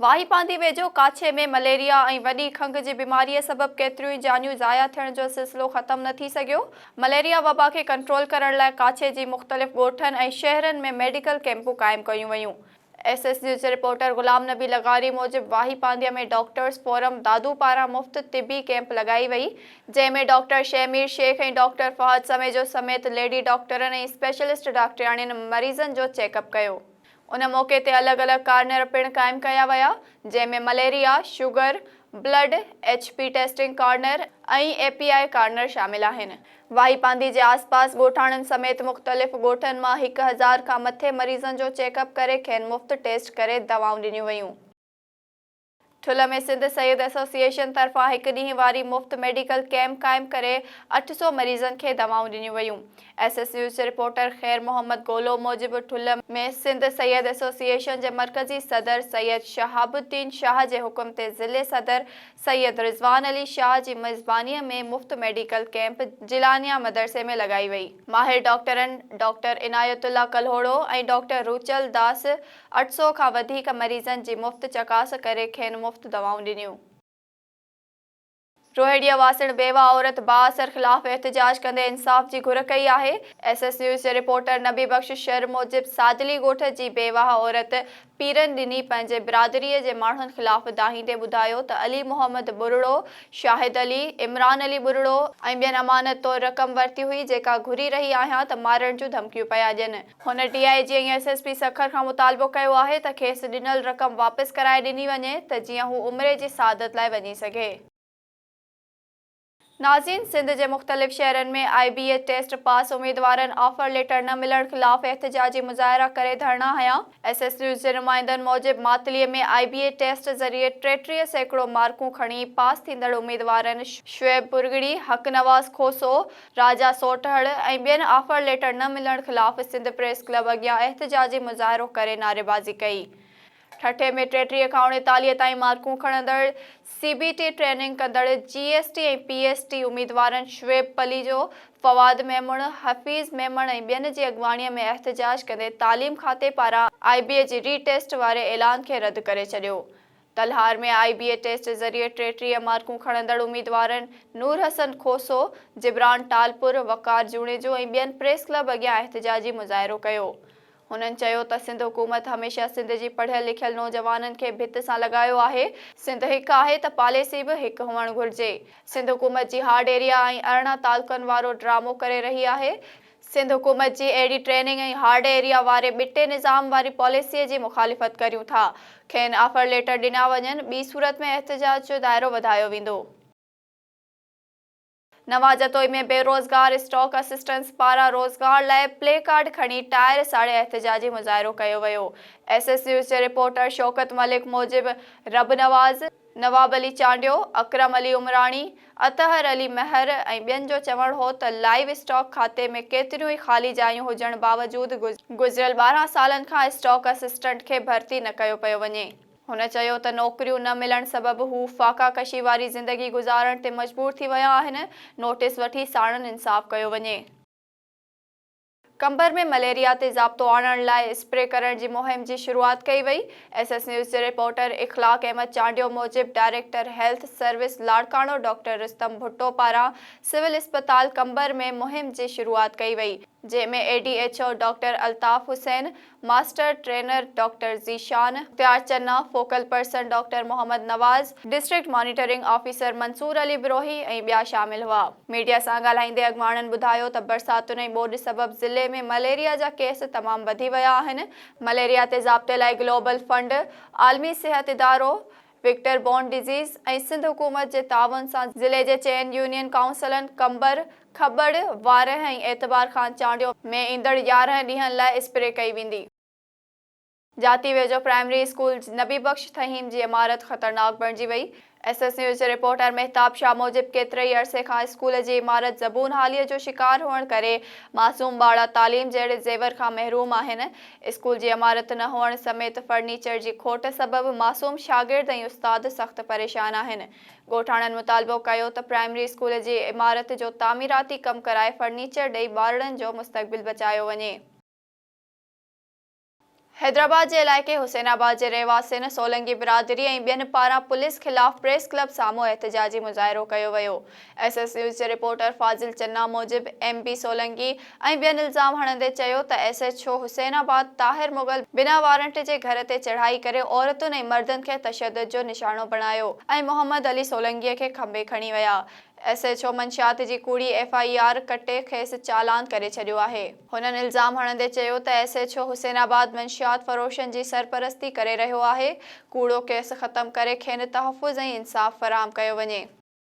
واهي پانڌي ويجهو ڪاڇي ۾ مليريا ۽ وڏي کنگهه جي بيماريء سبب ڪيتريون ئي جانيون ضايع ٿيڻ جو سلسلو ختم نه ٿي سگهيو. مليريا وبا کي ڪنٽرول ڪرڻ لاء ڪاڇي جي مختلف ڳوٺن ۽ شهرن ۾ ميڊيڪل ڪيمپون قائم ڪيون ويون. ايس ايس نيوز جي رپورٽر غلام نبي لغاري موجب واهي پانڌيء ۾ ڊاڪٽرز فورم دادو پاران مفت طبي ڪيمپ لڳائي وئي جنهن ۾ ڊاڪٽر شهمير شيخ ۽ ڊاڪٽر فهد سميجو سميت ليڊي ڊاڪٽرن ۽ اسپيشلسٽ ڊاڪٽرياڻين مريضن جو چيڪ اپ ڪيو. ان موقعي تي الڳ الڳ ڪارنر پڻ قائم ڪيا ويا جنهن ۾ malaria, sugar, blood, H P testing corner ۽ E P I corner شامل آهن. واهي پانڌي جي آس پاس ڳوٺاڻن سميت مختلف ڳوٺن مان هڪ هزار کان مٿي مريضن جو چيڪ اپ ڪري کين مفت ٽيسٽ ڪري دوائون ڏنيون ويون. ٺل ۾ سنڌ سيد ايسوسيئيشن طرفان هڪ ڏينهن واري مفت ميڊيڪل ڪئمپ قائم ڪري اٺ سؤ مريضن کي دوائون ڏنيون ويون. ايس ايس نيوز جي رپورٽر خير محمد گولو موجب ٺل ۾ سنڌ سيد ايسوسيئيشن جي مرڪزي صدر سيد شهاب الدين شاهه جي حڪم تي ضلعي صدر سيد رضوان علي شاهه جي ميزبانيء ۾ مفت ميڊيڪل ڪئمپ جيلانيا مدرسي ۾ لڳائي وئي. ماهر ڊاڪٽرن ڊاڪٽر عنايت الله ڪلهوڙو ۽ ڊاڪٽر روچل داس اٺ سؤ کان وڌيڪ مريضن جي مفت چڪاس ڪري کين مفت دوائون ڏنيون. روهيڙيء واسڻ بيوه عورت بااثر خلاف احتجاج ڪندي انصاف جي گهر ڪئي آهي. ايس ايس نيوز جي رپورٽر نبي بخش شر موجب سادلي ڳوٺ جي بيواهه عورت پيرن ڏني پنهنجي برادريء جي ماڻهن خلاف دانهيندي ٻڌايو ته علي محمد ٻرڙو، شاهد علي، عمران علي ٻرڙو ۽ ٻين امانت طور رقم ورتي هئي جيڪا گهري رهي آهيان ته مارڻ جون ڌمڪيون پيا ڏين. هن D I G ۽ S S P Sukkur کان مطالبو ڪيو آهي ته کيس ڏنل رقم واپس ڪرائي ڏني وڃي ته جيئن هو عمري جي سعادت لاء وڃي سگهي. نازين سنڌ جي مختلف شهرن ۾ I B S test pass اميدوارن آفر ليٽر نه ملڻ خلاف احتجاجي مظاهرا ڪري ڌرڻا هنيا، ايس ايس نيوز جي نمائندن موجب Matli ۾ I B A test ذريعي ٽيٽيهه سيڪڙو مارڪون کڻي پاس ٿيندڙ اميدوارن شعيب پرڳڙي، حق نواز کوسو، راجا سوٽهڙ ۽ ٻين آفر ليٽر نه ملڻ خلاف سنڌ پريس ڪلب اڳيان احتجاجي مظاهرو ڪري نعريبازي ڪئي، ٺٽي ۾ ٽيٽيهه کان اڻيتاليهه تائين مارڪون کڻندڙ سي بي ٽي ٽريننگ ڪندڙ J S T ۽ P S T اميدوارن شعيب پليجو، فواد ميمڻ، حفيظ ميمڻ ۽ ٻين جي اڳواڻيء ۾ احتجاج ڪندي تعليم کاتي پاران آء بي اي جي ري ٽيسٽ واري اعلان کي رد ڪري ڇڏيو. Talhar ۾ I B A test ذريعي ٽيٽيهه مارڪون کڻندڙ اميدوارن نور حسن کوسو، جبران ٽالپر، وقار جوڻيجو ۽ ٻين پريس ڪلب اڳيان احتجاجي مظاهرو ڪيو. هنن چيو ته سنڌ حڪومت هميشه سنڌ جي پڙهيل لکيل نوجوانن کي ڀت سان لڳايو آهي، سنڌ هڪ آهي ته پاليسي به هڪ هئڻ گهرجي، سنڌ حڪومت جي هارڊ ايريا ۽ ارڙهن تعلقن وارو ڊرامو ڪري رهي آهي، سنڌ حڪومت جي اهڙي ٽريننگ ۽ هارڊ ايريا واري ٻٽي نظام واري پاليسي جي مخالفت ڪريون ٿا، کين آفر ليٽر ڏنا وڃن، ٻي صورت ۾ احتجاج جو دائرو وڌايو ويندو. نوان جتوئي ۾ بيروزگار اسٽاڪ اسسٽنٽس پاران روزگار لاء پلي ڪارڊ کڻي ٽائر ساڙي احتجاجي مظاهرو ڪيو ويو ايس ايس نيوز جي رپورٽر شوڪت ملڪ موجب رب نواز، نواب علي چانڊيو، اڪرم علي عمراڻي، اطهر علي مهر ۽ ٻين جو چوڻ هو ته لائيو اسٽاڪ کاتي ۾ ڪيتريون ئي خالي جايون هجڻ باوجود گذريل ٻارهن سالن کان اسٽاڪ اسسٽنٽ کي ڀرتي نه ڪيو پيو وڃي. هن چيو ته نوڪريون نه ملڻ سبب هو فاقا ڪشي واري زندگي گذارڻ تي مجبور ٿي ويا آهن، نوٽيس وٺي ساڻن انصاف ڪيو وڃي. قمبر ۾ مليريا تي ضابطو آڻڻ لاء اسپري ڪرڻ جي مهم جي شروعات ڪئي وئي، ايس ايس نيوز جي رپورٽر اخلاق احمد چانڊيو موجب director health service Larkana doctor Rustam Bhutto پاران سول اسپتال قمبر ۾ مهم جي شروعات ڪئي وئي جنهن ۾ A D H O doctor Altaf Hussain, master trainer doctor Zeeshan Ikhtiar Channa, focal person doctor Muhammad Nawaz, district monitoring officer Mansoor Ali Brohi ۽ ٻيا شامل هئا. ميڊيا سان ڳالهائيندي اڳواڻن ٻڌايو ته برساتن ۽ ٻوڏ سبب ضلعي ۾ مليريا جا ڪيس تمام وڌي ويا آهن، مليريا تي ضابطي لاء گلوبل فنڊ، عالمي صحت ادارو، ويڪٽر بورن ڊزيز ۽ سنڌ حڪومت جي تعاون سان ضلعي جي چئن يونين ڪائونسلن قمبر، کبڙ، وارهه ۽ اعتبار خان چانڊيو ۾ ايندڙ يارهن ڏينهن لاء اسپري ڪئي ويندي. جاتي ويجهو پرائمري اسڪول نبي بخش ٿهيم جي عمارت خطرناڪ بڻجي وئي، ايس ايس نيوز جي رپورٽر مهتاب شاهه موجب ڪيتري ئي عرصي کان اسڪول جي عمارت زبون حالي جو شڪار هئڻ ڪري معصوم ٻارڙا تعليم جهڙي زيور کان محروم آهن، اسڪول جي عمارت نه هئڻ سميت فرنيچر جي کوٽ سبب معصوم شاگرد ۽ استاد سخت پريشان آهن. ڳوٺاڻن مطالبو ڪيو ته پرائمري اسڪول جي عمارت جو تعميراتي ڪم ڪرائي فرنيچر ڏئي ٻارڙن جو مستقبل بچايو وڃي. حيدرآباد جي علائقي حسين آباد جي رهواسين، سولنگي برادري ۽ ٻين پاران پوليس خلاف پريس ڪلب سامهون احتجاجي مظاهرو ڪيو ويو. ايس ايس نيوز جي رپورٽر فاضل چنا موجب ايم بي سولنگي ۽ ٻين الزام هڻندي چيو ته S H O Hussainabad Tahir Mughal بنا وارنٽ جي گهر تي چڙهائي ڪري عورتن ۽ مردن کي تشدد جو نشانو بڻايو ۽ محمد علي سولنگي کي کنڀي کڻي ويا ايس ايڇ او منشيات جي ڪوڙي ايف آء آر ڪٽي کيس چالان ڪري ڇڏيو آهي. هنن الزام هڻندي چيو ته S H O Hussainabad منشيات فروشن جي سرپرستي ڪري رهيو آهي ڪوڙو ڪيس ختم ڪري کين تحفظ ۽ انصاف فراهم ڪيو وڃي.